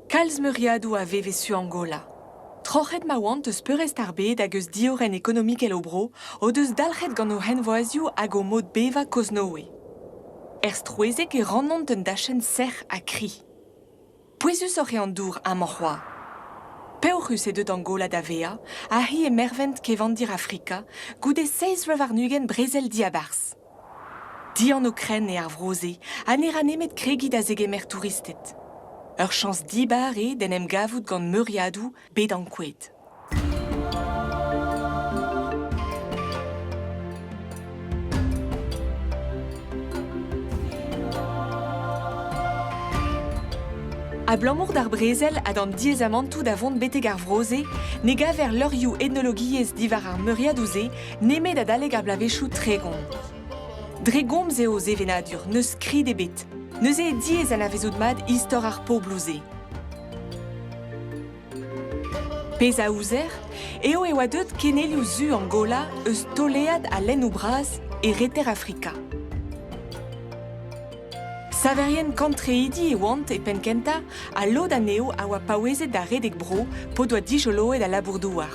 Kalz meuriadoù a veve su Angola. Troc'het ma oant eus peurrest ar bed hag eus diorren ekonomikel o bro o deus dalc'het gant o henvoazioù hag o mod bevañ Koznoe. Er strouezheg e rannont un dachenn sec'h ha kri. Pouezusoc'h eo an dour amañ c'hoazh. Peoc'hus eo deuet Angola da vezañ ha hi e mervent kevandir Afrika goude seizh vloaz warn-ugent brezel diabarzh. dianv-krenn eo ar vro-se ha ne ra nemet kregiñ da zegemer touristed. Ur chañs dibar eo d'en em gavout gant meuriadoù bet ankouaet. Abalamour d'ar brezel ha d'an diaezamantoù da vont betek ar vro-se ne gaver levrioù etnologiezh diwar ar meuriadoù-se nemet adalek ar bloavezhioù tregont. Dre gomz eo o sevenadur, n'eus skrid ebet. Neuze eo diaes anavezout mat istor ar pobloù-se. Pezh a ouzer eo e oa deuet kenelioù zu Angola eus tolead ha lennoù bras e reter Afrika. Saverien kantreidi e oant e penn kentañ ha lod anezho a oa paouezet da redek bro p'o doa dijoloet al labour-douar.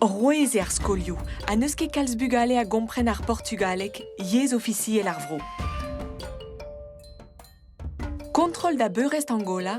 Rouez eo ar skolioù ha n'eus ket kalz bugale a gompren ar portugaleg, yezh ofisiel ar vro. Kontrol da beurrest Angola